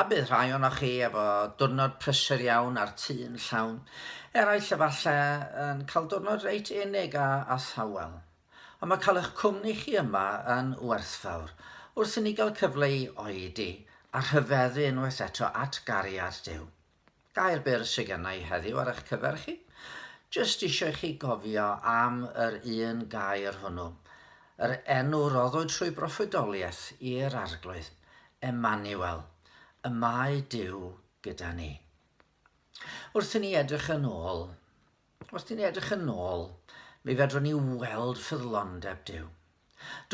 A bydd rhai ohonoch chi efo diwrnod prysur iawn a'r tŷ yn llawn. Eraill efalle yn cael diwrnod reit unig a, a thawel. Ond mae cael eich cwmni chi yma yn werthfawr, wrth i ni gael cyfle i oedi a rhyfeddu unwaith eto at gariad Duw. Gair byr sy genna i heddiw ar eich cyfer chi. Jyst isio i chi gofio am yr un gair hwnnw. Yr enw roddwyd trwy broffwydoliaeth i'r Arglwydd, Emmanuel, y mae Duw gyda ni. Wrth i ni edrych yn ôl Os dyn ni edrych yn ôl, mi fedrwn ni weld ffyddlondeb Duw.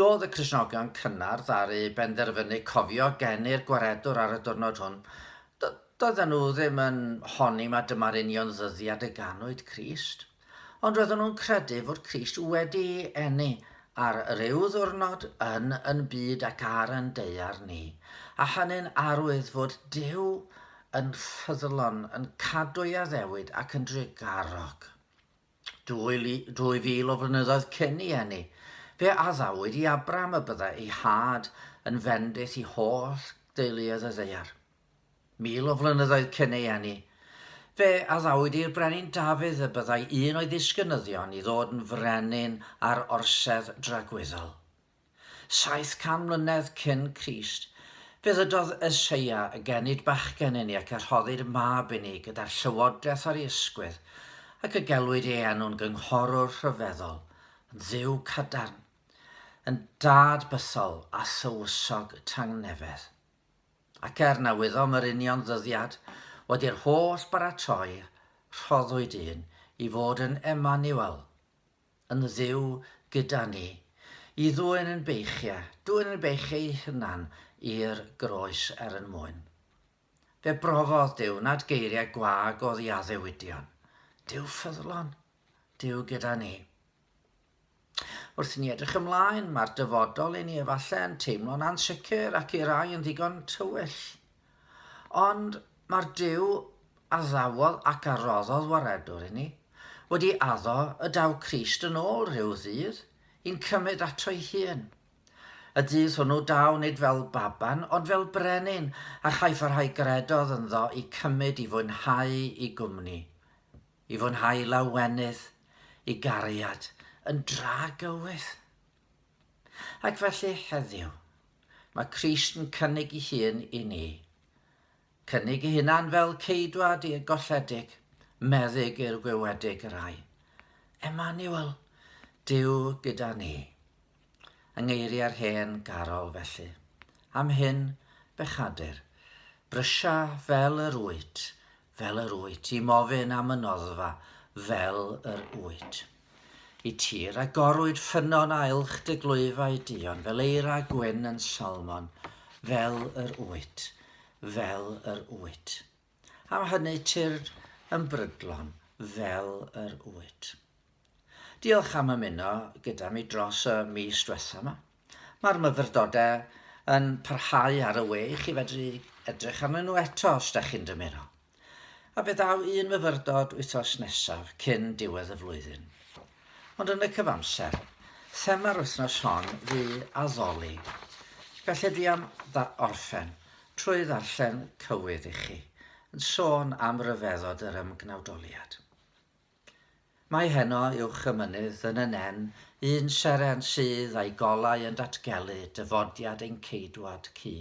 Doedd y Cristnogion cynnar ddaru benderfynu cofio geni'r Gwaredwr ar y diwrnod hwn. Do, doedden nhw ddim yn honni mae dyma'r union ddyddiad y ganwyd Crist. Ond roedden nhw'n credu fod Crist wedi enni ar ryw ddwrnod yn yn byd ac ar yn deiar ni, a hynny'n arwydd fod Duw yn ffyddlon, yn cadw ei addewid ac yn drugarog. 2000 o flynyddoedd cyn i eni, fe addawyd i Abram y byddai ei had yn fendith i holl deuluoedd y ddeiar. Mil o flynyddoedd cyn ei eni, fe addawyd i'r brenin Dafydd y byddai un o'i ddisgynyddion i ddod yn frenin ar orsedd dragwyddol. 700 mlynedd cyn Crist, fe ddydodd Eseia, y genid bachgen inni, ac y rhoddir mab inni gyda'r llywodraeth ar ei ysgwydd, ac y gelwid ei enw'n gynghorwr rhyfeddol, yn dduw cadarn, yn dad bythol a thywysog tangnefedd. Ac er na wyddom yr union ddyddiad, wedi'r holl baratoi, rhoddwyd un i fod yn Emmanuel, yn Dduw gyda ni, i ddwyn yn beichiau, dwyn yn beichiau ei hunan i'r groes er yn mwyn. Fe brofodd Duw nad geiriau gwag oedd i addewidion. Duw ffyddlon, Duw gyda ni. Wrth ni edrych ymlaen, mae'r dyfodol i ni efallai yn teimlo'n ansicr ac i rai yn ddigon tywyll. Ond mae'r Duw a ddawodd ac a roddodd waredwr i ni, wedi addo y daw Crist yn ôl rhyw ddydd, i'n cymryd ato'i hun. Y dydd hwnnw daw nid fel baban, ond fel brenin, a chaiff y rhai gredodd ynddo i cymryd i fwynhau i gwmni, i fwynhau lawenydd, i gariad, yn dra gywydd. Ac felly heddiw, mae Crist yn cynnig ei hun i ni, cynnig ei hunan fel ceidwad i'r golledig, meddyg i'r gwywedig y rai. Emmanuel, Dyw gyda ni. Yng ngeiriau'r hen garol felly. Am hyn, bechadur, brysia fel yr wyt, fel yr wyt i'm ofyn am y noddfa fel yr wyt i tir agorwyd ffynnon ailch dy glwyfau duon fel eira gwyn yn salmon fel yr wyt fel yr wyt am hynny tir yn brydlon fel yr wyt. Diolch am ymuno gyda mi dros y mis dwetha 'ma. Mae'r myfyrdodau yn parhau ar y we i chi fedru edrych arnyn nhw eto os da chi'n dymuno. A fe ddaw un myfyrdod wythnos nesaf cyn diwedd y flwyddyn. Ond yn y cyfamser, thema'r wythnos hon fu addoli. Felly fi am dda orffen trwy ddarllen cywydd i chi, yn sôn am ryfeddod yr ymgnawdoliad. Mae heno uwch y mynydd yn y nen un seren sydd a'i golau yn datgelu dyfodiad ein Ceidwad Cu.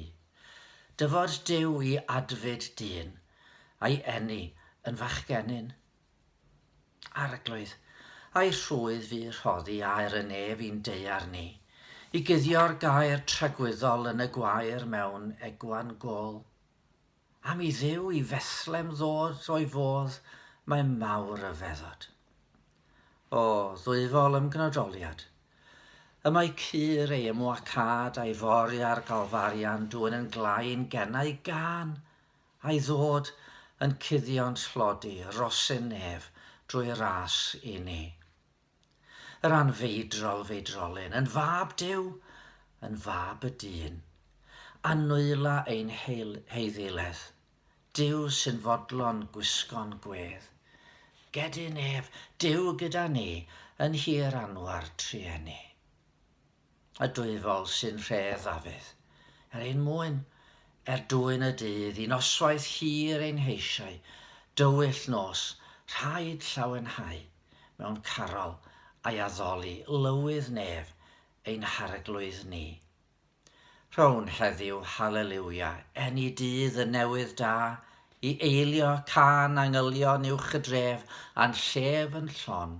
Dyfod Duw i adfyd dyn, a'i eni yn fachgenyn. Arglwydd, a'i rhwydd fu rhoddi aer y nef i'n daear ni, i guddio'r gair tragwyddol yn y gwair mewn egwan gol. Am i Dduw i Fethlem ddod o'i fodd mae mawr ryfeddod. O, ddwyfol ymgnodoliad! Y mae cur ei ymwacâd a'i fori ar Galfarian dwyn yn glain gennau gan a'i ddod yn cuddio'n tlodi rosyn nef drwy ras i ni. Yr anfeidrol feidrolyn, yn fab Duw, yn fab y dyn, a nwyla ein heiddiledd, Duw sy'n fodlon gwisgo'n gwedd. Gedyn ef, Duw gyda ni, yn hir anwar trueni. y dwyfol sy'n rhef Ddafydd, er ein mwyn, er dwyn y dydd, i noswaith hir ein heisiau, dywyll nos, rhaid llawenhau, mewn carol, a'i addoli, lywydd nef, ein harglwydd ni. Rhown heddiw Hallelujah, eni dydd y newydd da, i eilio, cân angylion uwch y dref, a'n llef yn llon,